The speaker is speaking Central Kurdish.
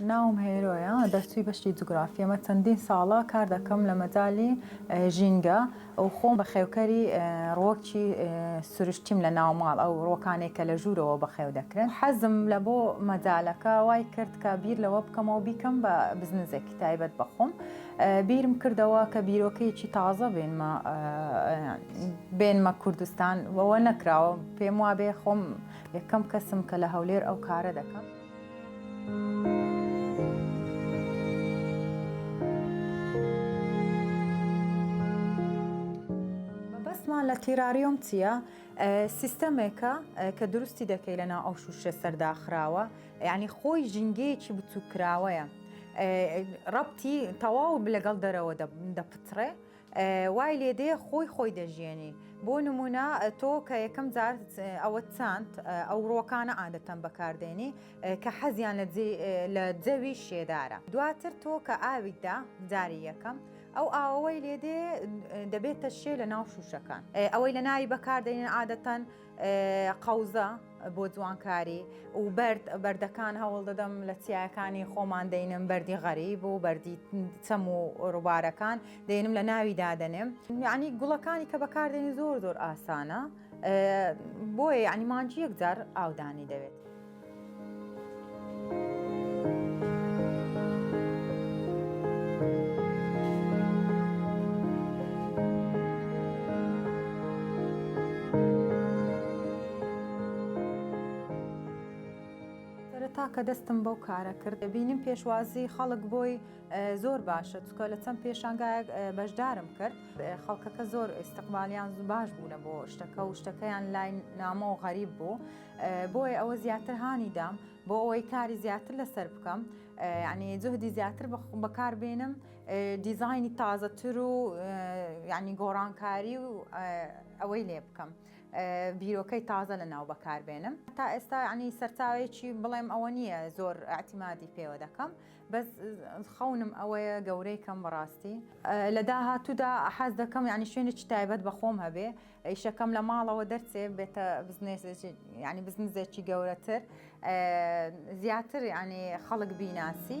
ناوم هێرۆیە، دەرچووی بەشی جوگرافیەمە، چەندین ساڵە کار دەکەم لە مەجالی ژینگە و خۆم بە خێوکەری ڕووەکی سروشتیم لە ناوماڵ ئەو ڕووەکانێک کە لە ژوورەوە بەخێو دەکرێن. حەزم لە بۆ مەجالەکە وای کرد کە بیر لەوە بکەمەوە بیکەم بە بزنزێکی تایبەت بە خۆم. بیرم کردەوە کە بیرۆکەیەکی تازە بێنمە بێنمە کوردستان، وەوە نەکراوە پێم وابێ خۆم یەکەم کەسم کە لە هەولێر ئەو کارە دەکەم. مەبەستمان لە تیراریۆم چیە؟ سیستەمێکە کە دروستی دەکەی لە ناو ئەو شوشە سەرداخراوە یعنی خۆی ژینگەیەکی بچووکراوەیە ڕەتی تەواو لەگەڵ دەرەوە دەپترێ وای لێدێ خۆی خۆی دەژیێنی بۆ نمونە تۆ کە یەکەم جار ئەوە چاند ئەو ڕۆکانە عادەتەن بەکاردێنی کە حەزیان لە جەوی شێدارە دواتر تۆ کە ئاویدا جاری یەکەم ئەو ئاوەوەی لێدێ دەبێتە شێ لە ناو شوشەکان ئەوەی لە ناوی بەکاردێنین عادەتەن قەوزە بۆ جوانکاری و بەرد بەردەکان هەوڵ دەدەم لە چیاکانی خۆمان دەینم بەری غەریب و بەری چەم و ڕووبارەکان دێنم لە ناوی دادەنێم یعنی گوڵەکانی کە بەکاردێنی زۆر زۆر ئاسانە بۆیە ینی مانجی یەکجار ئاودانی دەوێت. سەرەتا کە دەستم بەو کارە کرد بینیم پێشوازی خەڵک بۆی زۆر باشە چکە لە چەند پێشانگایەک بەشدارم کرد خەڵکەکە زۆر ئیسستقبالیان باش بوونە بۆ شتەکە و شتەکەیان لای نامۆ غەریب بوو بۆیە ئەوە زیاتر هانی دام بۆ ئەوەی کاری زیاتر لەسەر بکەم ینی جهدی زیاتر بەکار بێنم دیزایانی تازەتر و ینی گۆڕانکاری و ئەوەی لێ بکەم بیرۆکەی تازە لە ناو بەکار بێنم تا ئێستا ینی سەرچاوێکی بڵێم ئەوە نییە زۆر ئەتیمادی پێوە دەکەم بەس خەونم ئەوەیە گەورەی کەم بەڕاستی لە داهاتوودا حەز دەکەم ینی شوێنێکی تایبەت بەخۆم هەبێ ئیشەکەم لە ماڵەوە دەرچێ بێتە بزنێسێکی ینی بزنزێکی گەورەتر زیاتر ینی خەڵک بیناسی.